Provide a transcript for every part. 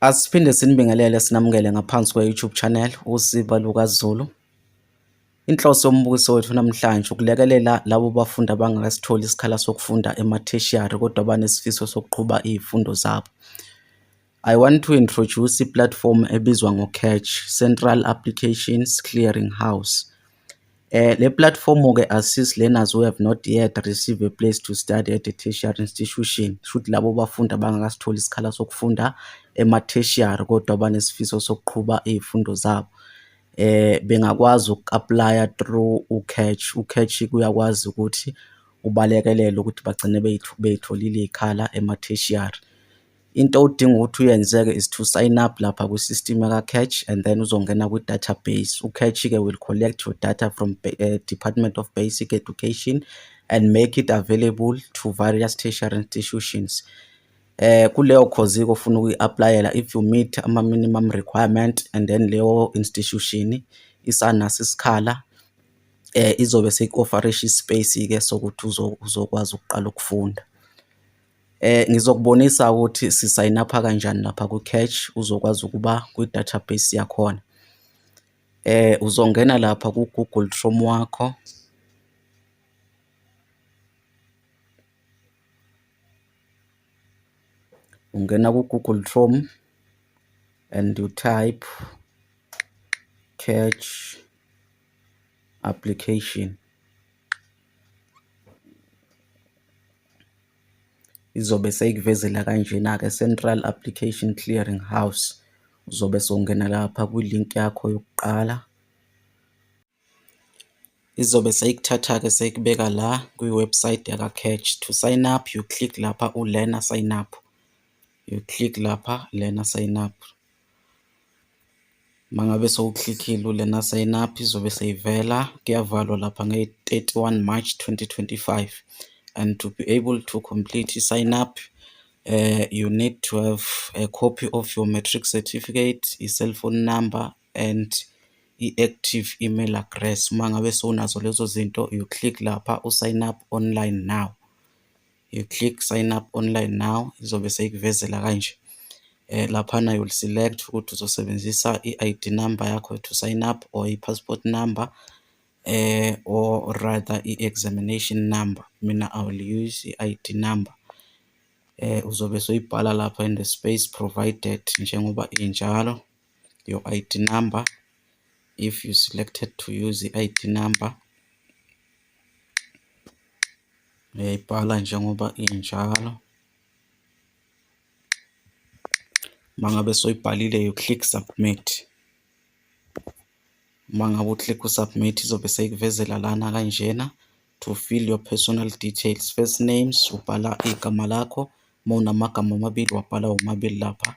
Asiphinde sinibingelele sinamukele ngaphansi kwe-YouTube channel uSiba LukaZulu. Inhloso yombukiso wethu namhlanje ukulekelela labo bafundi abangakasitholi isikhala sokufunda ematheshiyari kodwa banesifiso sokuqhuba izifundo zabo. I want to introduce i-platform ebizwa ngo-CACH, Central Applications Clearing House. Le platform-ke assist learners who have not yet received a place to study at a tertiary institution. Kushuthi labo bafundi abangakasitholi isikhala sokufunda ema-tertiary kodwa banesifiso sokuqhuba iy'fundo zabo. Bengakwazi uku-apply-a through u-CACH. U-CACH uyakwazi ukuthi ubalekelele ukuthi bagcine bey'tholile iy'khala ema-tertiary. Into odinga ukuthi uyenze-ke is to sign up lapha kwi-system yaka-CACH and then uzongena kwi-database. U-CACH-ke will collect your data from uh, Department of Basic Education and make it available to various tertiary institutions. Eh kuleyo course ofuna ukuyi-applyela if you meet ama-minimum requirement and then leyo institution isanaso isikhala eh izobe seku-offerisha i-space-ke sokuthi uzokwazi ukuqala ukufunda. Eh ngizokubonisa ukuthi sisayina pha kanjani lapha ku cache uzokwazi ukuba kwi database yakhona. Eh uzongena lapha ku Google Chrome wakho. Ungena ku Google Chrome and you type cache application. izobe seyikuvezela kanjena-ke Central Application Clearing House. Uzobe sewungena lapha kwi-link yakho yokuqala. Izobe seyikuthatha-ke seyikubeka la kwi-website yaka-CACH. To sign up, you click lapha u-learner sign up. You click lapha learner sign up. Uma ngabe sowuklikhile ulena sign up izobe seyivela kuyavalwa lapha nge-31 March 2025 and to be able to complete i-sign up uh, you need to have a copy of your matric certificate, i-cell phone number and i-active email address. Uma ngabe sowunazo lezo zinto you click lapha u-sign up online now. you click sign up online now izobe seyikuvezela kanje eh laphana you'll select ukuthi uzosebenzisa i-ID number yakho to sign up or i-passport number eh or rather i-examination number mina i will use i-ID number eh uzobe soyibhala lapha in the space provided njengoba injalo your id number if you selected to use i-id number uyayibhala njengoba injalo uma ngabe soyibhalile you click submit uma ngabe uclick usubmit izobe seyikuvezela lana kanjena to fill your personal details first names ubhala igama lakho uma unamagama amabili wabhala womabili lapha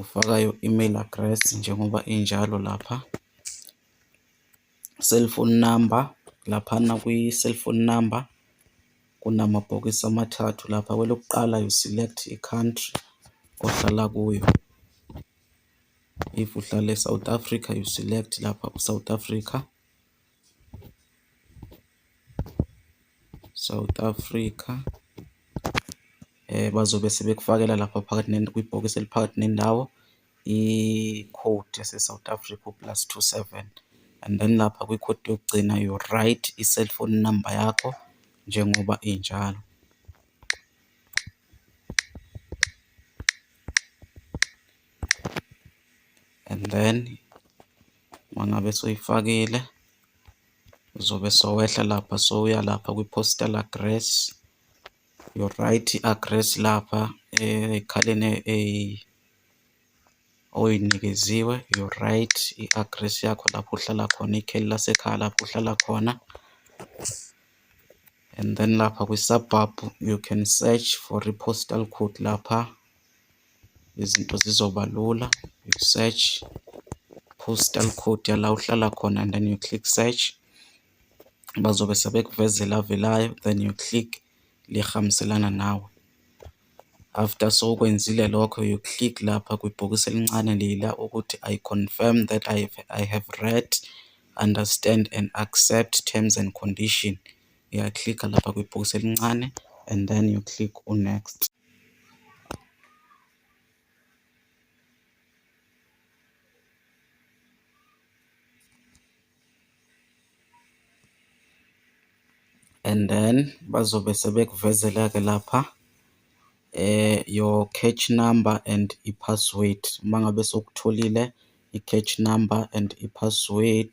Ufaka i-email address njengoba injalo lapha. Cellphone number, laphana kwi-cellphone number kunamabhokisi amathathu lapha. Kwelokuqala you select i-country ohlala kuyo. If uhlala e-South Africa you select lapha u-South Africa. South Africa eh bazobe sebekufakela lapha phakathi kwibhokisi eliphakathi nendawo i-code yase-South Africa plus 27 and then lapha kwi-code yokugcina you write i-cellphone number yakho njengoba injalo. And then Uma ngabe soyifakile uzobe sowehla lapha sowuya lapha kwi-postal address you right i-address lapha ekhaleni oyinikeziwe you right i-address yakho lapho uhlala khona ikheli lasekhaya lapho uhlala khona and then lapha kwi-suburb you can search for i-postal code lapha izinto zizoba lula you search postal code yala uhlala khona and then you click search bazobe sebekuvezela avelayo then you click lihambiselana nawe after sokwenzile lokho you click lapha kwibhokisi elincane lila ukuthi i confirm that I, I have read understand and accept terms and condition uyaklikha lapha kwibhokisi elincane and then you click unext and then bazobe sebekuvezela-ke lapha eh your catch number and i-password uma ngabe sokutholile i-catch number and i-password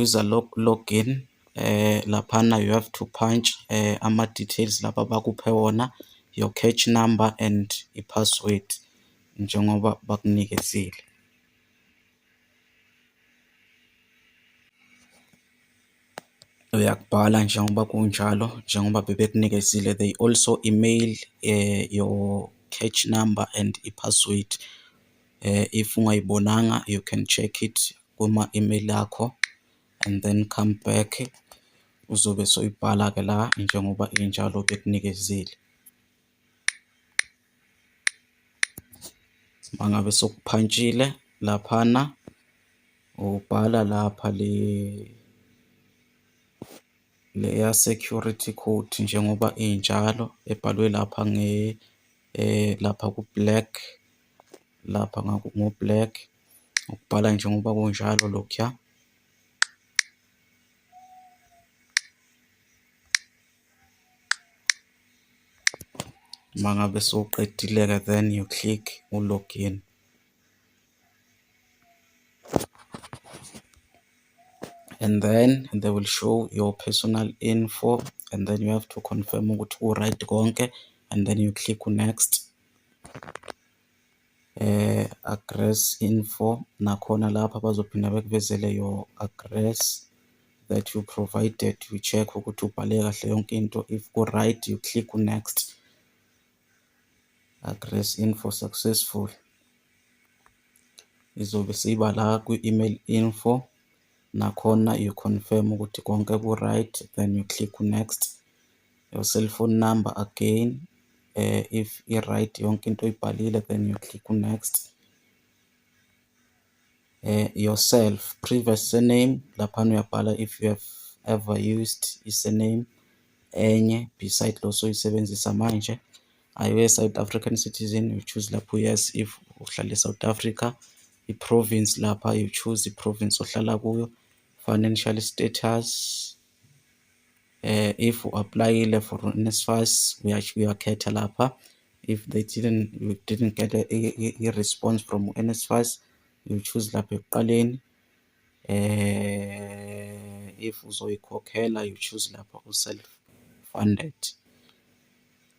User log login laphana you have to punch ama details laba abakuphe wona your catch number and i-password njengoba bakunikezile. Uyakubhala njengoba kunjalo njengoba bebekunikezile they also email your catch number and i-password. If ungayibonanga you can check it kuma-email akho and then come back uzobe soyibhala-ke la njengoba injalo bekunikezile. Uma ngabe sokuphantshile laphana ubhala lapha le leya security code njengoba injalo ebhalwe lapha nge eh lapha ku-black lapha ngo-black ukubhala njengoba kunjalo lokhuya uma ngabe sowuqedile-ke then you click u-login and then they will show your personal info and then you have to confirm ukuthi ku-right konke and then you click next address info nakhona lapha bazophinda bekuvezele your address that you provided you check ukuthi ubhale kahle yonke into if ku-right you click next address info successful izobe siba la kwi-email info nakhona you confirm ukuthi konke ku-right then you click next your cell phone number again uh, if i-right yonke into oyibhalile then you click on next uh, yourself previous surname laphana uyabhala if you have ever used i-surname enye beside lo soyisebenzisa manje are you a south african citizen you choose lapho yes if uhlala e-south africa i-province lapha you choose i-province ohlala kuyo financial status eh, if uapplyile for NSFAS uyakhetha lapha if they didn't you didn't get a, a, a response from NSFAS you choose lapha ekuqaleni eh if uzoyikhokhela you choose lapha u self funded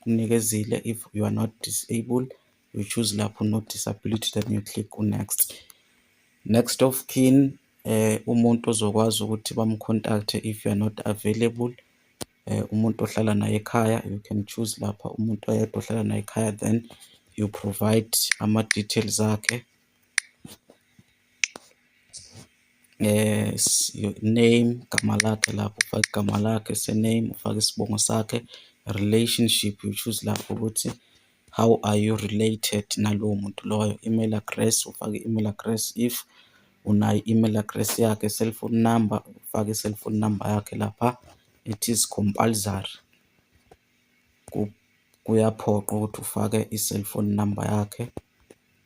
Kunikezile if you are not disabled you choose lapho no disability then you click on next next of kin eh umuntu ozokwazi ukuthi bamcontacte if you are not available eh umuntu ohlala naye ekhaya you can choose lapha umuntu oyedwa ohlala naye ekhaya then you provide ama details akhe name igama lakhe lapho ufaka igama lakhe, surname ufaka isibongo sakhe, relationship you choose lapho ukuthi how are you related nalowo muntu loyo. Email address ufaka i-email address if unayo i-email address yakhe, cellphone number ufaka i-cellphone number yakhe lapha it is compulsory kuyaphoqa ukuthi ufake i-cellphone number yakhe.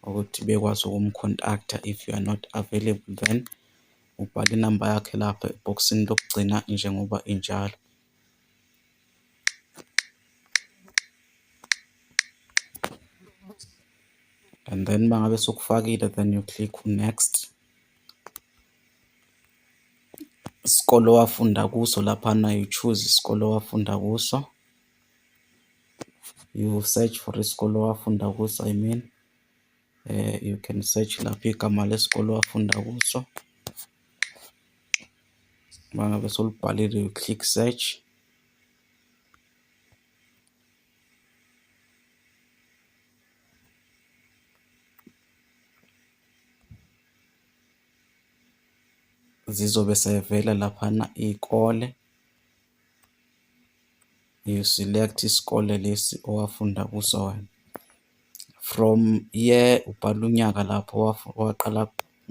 ukuthi bekwazi ukumcontact-a if you are not available then ubhala inamba yakhe lapha ebhokisini lokugcina njengoba injalo. And then uma ngabe sokufakile then you click next. Isikole owafunda kuso laphana you choose isikole owafunda kuso. you search for isikole owafunda kuso i mean um you can search lapho igama lesikole owafunda kuso uma ngabe solibhalile you click search zizobe sevela laphana iy'kole you select isikole lesi owafunda kuso wena from year ubhala unyaka lapho waqala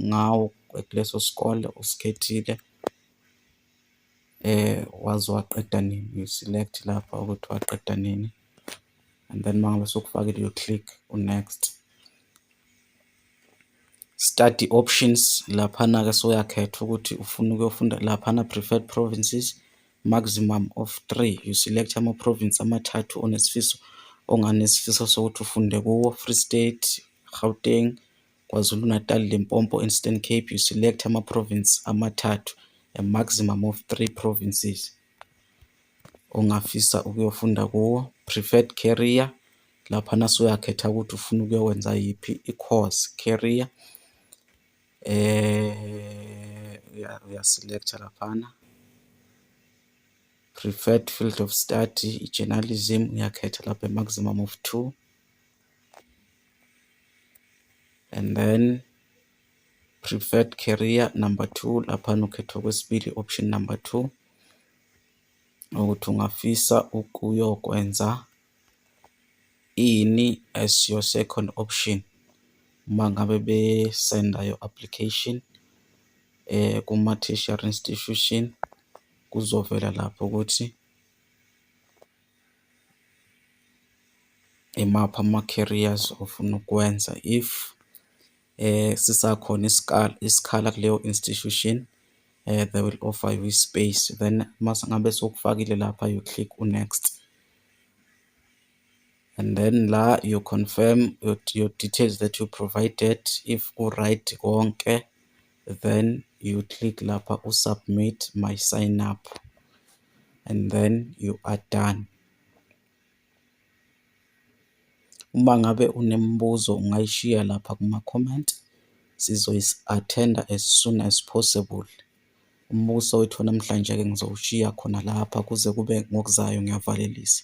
ngawo kuleso sikole usikhethile eh wazi waqeda nini you select lapha ukuthi waqeda nini and then mangabe sokufakile you click on next study options laphana-ke soyakhetha ukuthi ufuna ukuyofunda laphana preferred provinces maximum of three you select ama-province amathathu onesifiso onganesifiso sokuthi ufunde kuwo free state gauteng kwazulu-natal limpopo eastern cape you select ama-province amathathu a maximum of three provinces ongafisa ukuyofunda kuwo, preferred career, laphana suyakhetha ukuthi ufuna ukuyokwenza yiphi i-course, career. Uya-select-a laphana, preferred field of study, i-journalism, uyakhetha lapha i-maximum of two. And then Preferred carrier number two, laphana ukhetha okwesibili option number two, ukuthi ungafisa ukuyokwenza ini as your second option uma ngabe besenda your application eh kuma tertiary institution kuzovela lapho ukuthi imaphi ama-carriers ofuna ukwenza if sisakhona isikhala kuleyo institution they will offer you i-space then uma ngabe sokufakile lapha you click u-next and then la you confirm your, your details that you provided if u-right konke then you click lapha u-submit my sign up and then you are done. Uma ngabe unemibuzo ungayishiya lapha kuma-comment, sizoyi-attend-a as soon as possible. Umbuso wethu wanamhlanje-ke ngizowushiya khona lapha kuze kube ngokuzayo ngiyavalelisa.